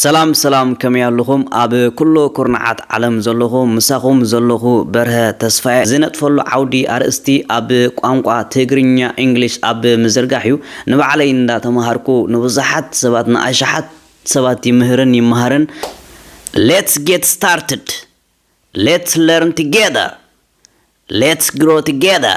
ሰላም ሰላም ከመይ ኣሉኹም ኣብ ኩሉ ኩርናዓት ዓለም ዘሎኹ ምሳኹም ዘሎኹ በርሀ ተስፋየ ዝነጥፈሉ ዓውዲ ኣርእስቲ ኣብ ቋንቋ ትግርኛ ኢንግሊሽ ኣብ ምዝርጋሕ እዩ ንባዕለይ እንዳ ተማሃርኩ ንብዙሓት ሰባት ንኣሽሓት ሰባት ይምህርን ይማሃርን Let's get started! Let's learn together! Let's grow together!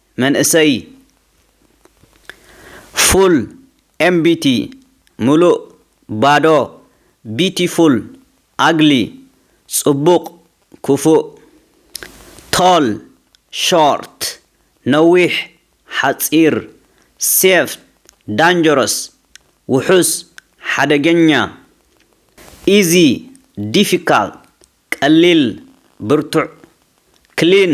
መንእሰይ ፉል ኤምቢቲ ምሉእ ባዶ ቢቲፉል ኣግሊ ጽቡቕ ክፉእ ቶል ሾርት ነዊሕ ሓጺር ሴፍ ዳንጀረስ ውሑስ ሓደገኛ ኢዚ ዲፊካልት ቀሊል ብርቱዕ ክሊን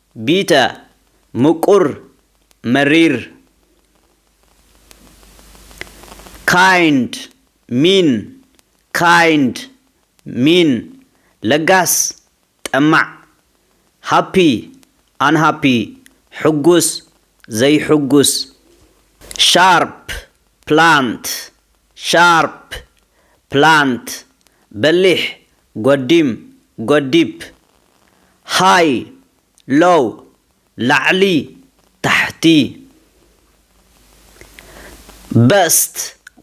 ቢተ ምቁር መሪር kind ሚን ካይንድ ሚን ለጋስ ጠማዕ ሃፒ ኣንሃፒ ሕጉስ ዘይሕጉስ ሻርፕ ፕላንት ሻርፕ ፕላንት በሊሕ ጎዲም፣ ጎዲፕ፣ ሃይ፣ ሎው፣ ላዕሊ፣ ታሕቲ፣ በስት፣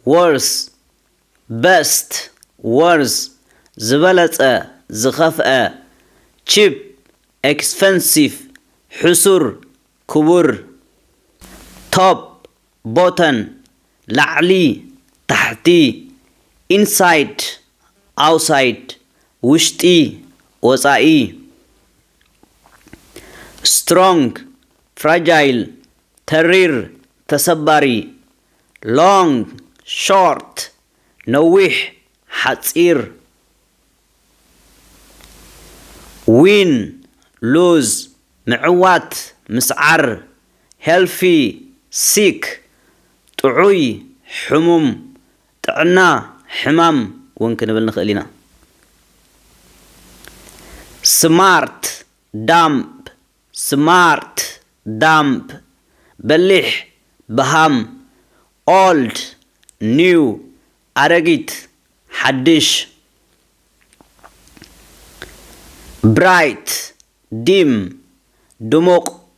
ዎርስ፣ Best፣ Worse፣ ዝበለጸ፣ ዝኸፍኣ፣ ቺፕ፣ ኤክስፐንሲቭ፣ ሕሱር፣ ክቡር፣ ቶፕ፣ ቦተን፣ ላዕሊ፣ ታሕቲ፣ ኢንሳይድ፣ ኣውሳይድ፣ ውሽጢ፣ ወጻኢ፣ ስትሮንግ፣ ፍራጃይል፣ ተሪር፣ ተሰባሪ፣ ሎንግ፣ ሾርት፣ ነዊሕ፣ ሓጺር፣ ዊን፣ ሉዝ፣ ምዕዋት፣ ምስዓር፣ Healthy Sick ጥዑይ፣ ሕሙም፣ ጥዕና፣ ሕማም ውን ክንብል ንኽእል ኢና። Smart Dumb ስማርት፣ ዳምብ፣ በሊሕ፣ በሃም፣ Old New ኣረጊት፣ ሓድሽ፣ Bright ዲም፣ ድሙቕ፣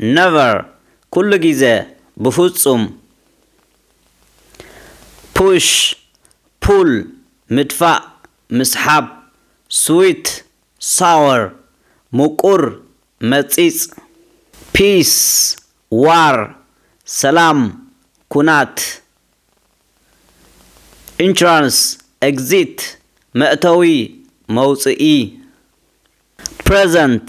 ነቨር ኩሉ ግዜ ብፉጹም ፑሽ ፑል ምድፋእ ምስሓብ ስዊት ሳወር ሙቁር መጺጽ ፒስ ዋር ሰላም ኩናት ኢንትራንስ ኤግዚት መእተዊ መውጽኢ ፕረዘንት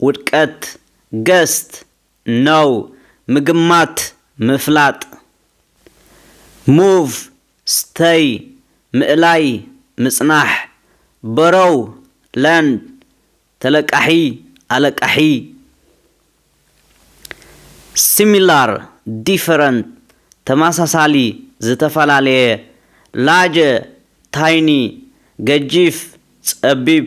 ውድቀት ገስት ነው ምግማት ምፍላጥ ሙቭ ስተይ ምእላይ ምጽናሕ በሮው ለንድ ተለቃሒ ኣለቃሒ ሲሚላር ዲፈረንት ተመሳሳሊ ዝተፈላለየ ላጀ ታይኒ ገጂፍ ጸቢብ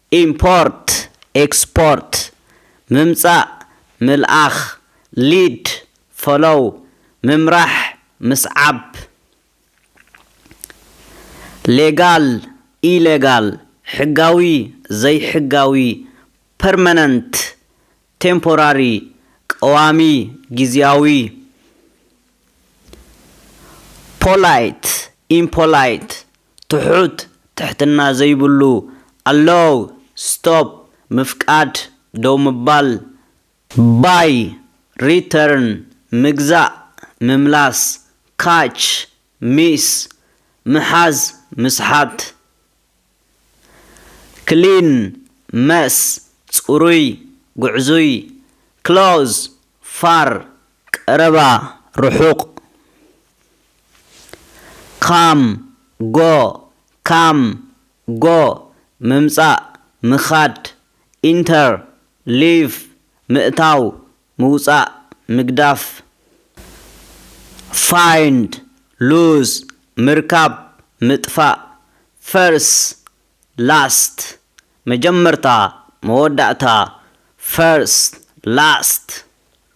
ኢምፖርት ኤክስፖርት፣ ምምጻእ ምልኣኽ፣ ሊድ፣ ፎሎው፣ ምምራሕ ምስዓብ፣ ሌጋል ኢሌጋል፣ ሕጋዊ ዘይሕጋዊ፣ ፐርመነንት ቴምፖራሪ፣ ቀዋሚ ግዝያዊ፣ ፖላይት ኢምፖላይት፣ ትሑት ትሕትና ዘይብሉ ኣሎው ስቶፕ ምፍቃድ ደው ምባል። ባይ ሪተርን ምግዛእ ምምላስ ካች ሚስ ምሓዝ ምስሓት። ክሊን መስ ጽሩይ ጉዕዙይ ክሎዝ ፋር ቀረባ ርሑቕ ካም ጎ ካም ጎ ምምጻእ ምኻድ ኢንተር ሊቭ ምእታው ምውጻእ ምግዳፍ ፋይንድ ሉዝ ምርካብ ምጥፋእ ፈርስ ላስት መጀመርታ መወዳእታ ፈርስ ላስት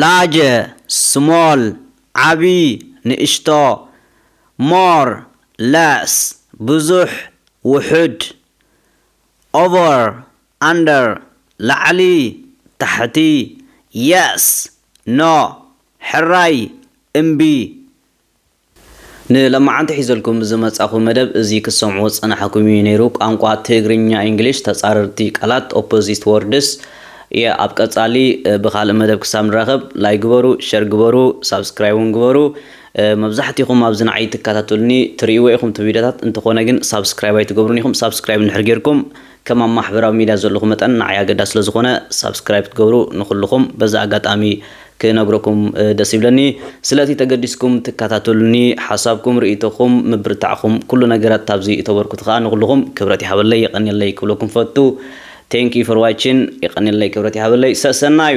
ላጀ፣ ስሞል፣ ዓቢ፣ ንእሽቶ፣ ሞር፣ ለስ፣ ብዙሕ፣ ውሑድ፣ ኦቨር፣ ኣንደር፣ ላዕሊ፣ ታሕቲ፣ የስ፣ ኖ፣ ሕራይ፣ እምቢ፣ ንለማዓንቲ ሒዘልኩም ዝመጻኹ መደብ እዚ ክትሰምዑ ዝጸናሕኩም ኢዩ ነይሩ ቋንቋ ትግርኛ ኢንግሊሽ ተጻረርቲ ቃላት ኦፖዚት ዎርድስ ኢየ ኣብ ቀጻሊ ብኻልእ መደብ ክሳብ ንራኸብ ላይ ግበሩ ሸር ግበሩ ሳብስክራይብ ውን ግበሩ መብዛሕቲኹም ኣብዚ ንዓይ ትካታተሉኒ ትርእይዎ ኢኹም እቲ ቪድዮታት እንተኾነ ግን ሳብስክራይብ ኣይትገብሩን ኢኹም ሳብስክራይብ እንድሕር ጌርኩም ከም ኣብ ማሕበራዊ ሚድያ ዘለኹ መጠን ንዓይ ኣገዳሲ ስለ ዝኾነ ሳብስክራይብ ክትገብሩ ንኹልኹም በዚ ኣጋጣሚ ክነግረኩም ደስ ይብለኒ። ስለቲ ተገዲስኩም ትከታተሉኒ ሓሳብኩም ርእይቶኹም ምብርታዕኹም ኩሉ ነገራት ኣብዚ እተበርኩቱ ከኣ ንኹልኹም ክብረት ይሃበለይ የቐንየለይ ክብለኩም ፈቱ Thank you for watching የቐንየለይ ክብረት ይሃበለይ ሰሰናዩ።